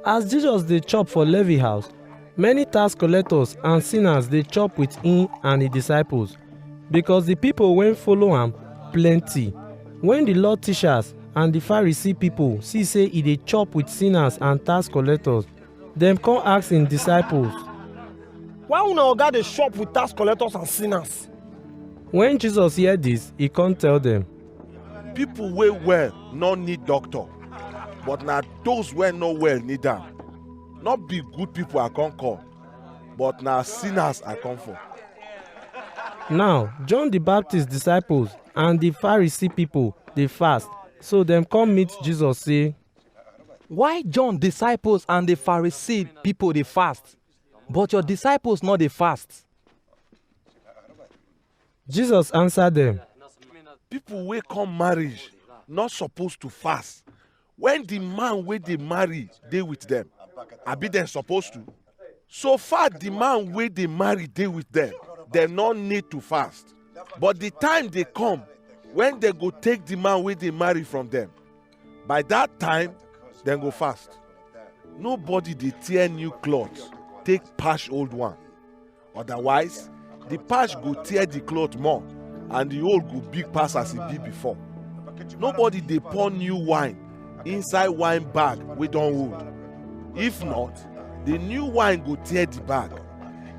As Jesus dey chop for Levi house, many tax collectors and sinners dey chop with him and his disciples, because the people wey follow am plenty. When the law teachers and the Pharisee people see say he dey chop with sinners and tax collectors, dem come ask him disciples. Why una oga dey chop with tax collectors and sinners? When Jesus hear this, he come tell them. people wey well no need doctor but na those wey no well need am no be good people i come call but na sinners i come for Now, John the Baptist disciples and the Pharisee people dey fast. So dem come meet Jesus say, Why John disciples and the Pharisee people dey fast, but your disciples no dey fast? Jesus answer dem, People wey come marriage no suppose to fast when the man wey dey marry dey with them. Abi dem suppose to? So far the man wey dey marry dey with them, dem no need to fast. But the time dey come when dem go take the man wey dey marry from them. By that time, dem go fast. Nobody dey tear new cloth take patch old one. Otherwise, the patch go tear the cloth more and the hole go big pass as e be before. Nobody dey pour new wine inside wine bag wey don old. If not, the new wine go tear the bag,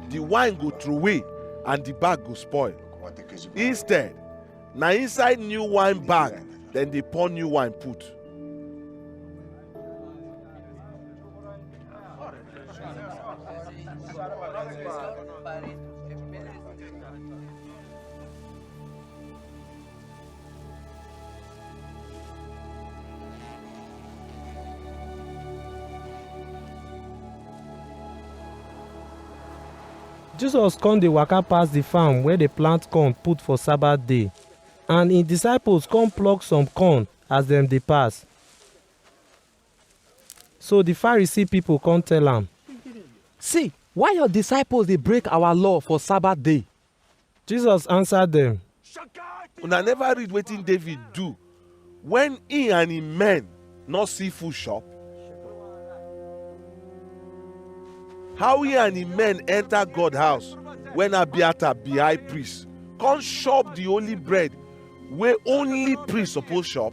the wine go throway and the bag go spoil. Instead, na inside new wine bag dem dey pour new wine put. jesus come dey waka pass the farm where dey plant corn put for sabbath day and him disciples come pluck some corn as dem dey pass So di Pharisee pipo kon tell am. See, why yor disciples dey break awa law for Sabbath day? Jesus ansa dem. Una neva read wetin David do wen he and hin men nor see food shop? How he and hin men enter God house wen Abiathar be high priest, kon shop di holy bread wey only priest suppose shop?